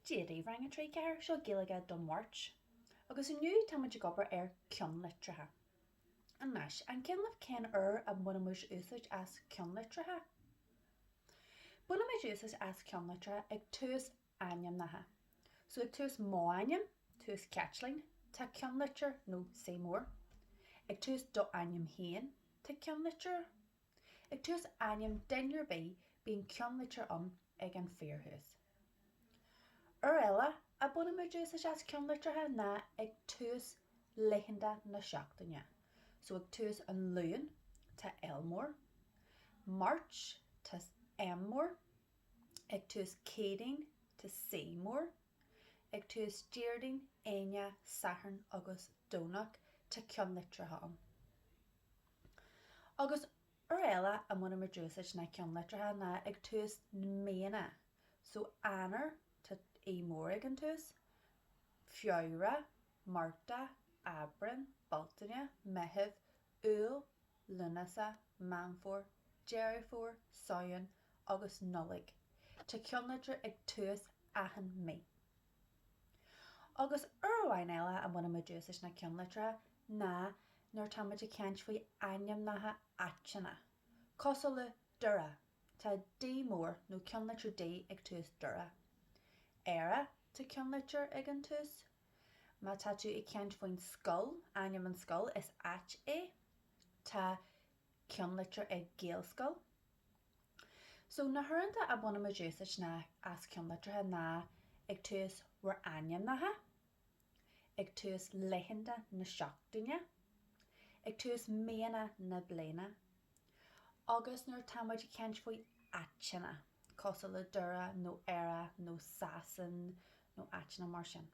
Dia daoibh Rang 3 4 seo Gaeilge don Mháirt agus inniu táimid ag obair ar ceannlitreacha. Anois, an cuimhin libh cén uair a mbainimid úsáid as ceannlitreacha? Bainimid úsáid as ceannlitreacha ag tús ainmneacha. So ag tús mo ainm, tús Caitlín, tá ceannlitir nó C mór. Ag tús do ainm féin, tá ceannlitir. Ag tús ainm duine ar bith bíonn ceannlitir ann ag an fíorthús. Uair eile a bainimid úsáid as ceannlitreacha ná ag tús laethanta na seachtaine. So ag tús an Luain tá L mór, Máirt tá M mór, ag tús Céadaoin tá C mór, ag tús Déardaoin, Aoine, Satharn agus Domhnach tá ceannlitreacha ann. Agus uair eile a mbainimid úsáid na ceannlitreacha ná ag tús míonna. So Eanáir, tá E mór ag an tús, Feabhra, Márta, Aibreán, Bealtaine, Meitheamh, Iúil, Lúnasa, Meán Fómhair, Deireadh Fómhair, Samhain agus Nollaig. Tá ceannlitir ag tús achan mí. Agus uair amháin eile a mbainimid úsáid na ceannlitreacha ná nuair táimid ag caint faoi ainmneacha áiteanna, cosúil le Doire, tá D mór nó ceannlitir D ag tús Doire. Éire, tá ceannlitir ag an tús. Má tá tú ag caint faoin scoil, ainm an scoil, is áit é. Tá ceannlitir ag Gaelscoil. So na huaireanta a bhainimid úsáid ná as ceannlitreacha ná ag tús bhur ainmneacha, ag tús laethanta na seachtaine, ag tús míonna na bliana agus nuair táimid ag caint faoi áiteanna cosúil le Doire nó Éire nó Sasain nó áiteanna mar sin.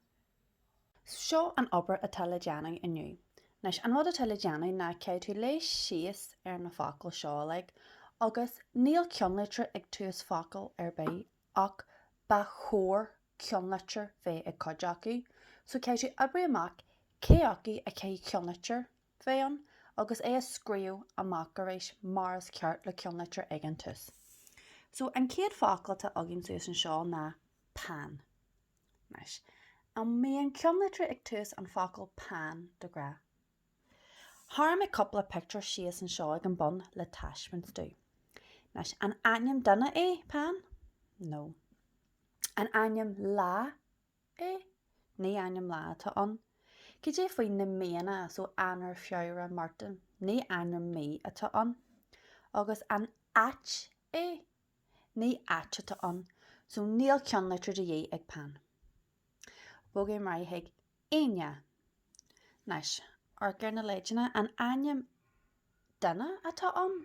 Seo an obair atá le déanamh inniu. Anois, an rud atá le déanamh ná caithfidh tú léamh síos ar na focail seo uilig agus níl ceannlitir ag tús focail ar bith ach ba chóir ceannlitir bheith ag cuid acu. So caithfidh tú oibriú amach cé acu a gcaithfidh ceannlitir bheith ann agus é a scríobh amach arís mar is ceart le ceannlitir ag an tús. So an chéad focal atá againn suas anseo ná peann. Anois, an mbíonn ceannlitir ag tús an focal peann de ghnáth? Tharraing mé cúpla pictiúr síos anseo ag an bun le taispeáint daoibh. Anois, an ainm duine é peann? No. An ainm lá é? Ní ainm lá atá ann. Cad é faoi na míonna, so Eanáir, Feabhra, Márta? Ní ainm mí atá ann. Agus an áit é? Ní áit atá ann so níl ceannlitir de dhíth ag peann. Bogfaidh mé ar aghaidh chuig Aoine. Anois, amharc ar na leideanna, an ainm duine atá ann?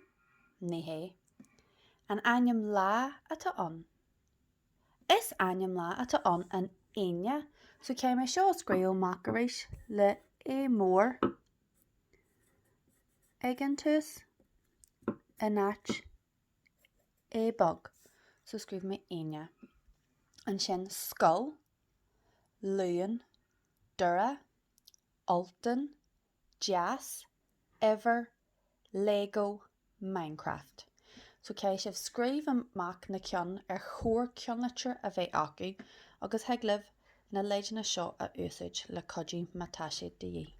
Ní hé. An ainm lá atá ann? Is ainm lá atá ann an Aoine so caithfidh mé seo a scríobh amach arís le A mór ag an tús in áit a beag so scríobh mé Aoine. Ansin Scoil, Luan, Doire, Ultán, Deas, Eimhir, Lego, Minecraft. So caithfidh sibh scríobh amach na ceann ar chóir ceannlitir a bheith acu agus thig libh na leideanna seo a úsáid le cuidiú má tá siad de dhíth.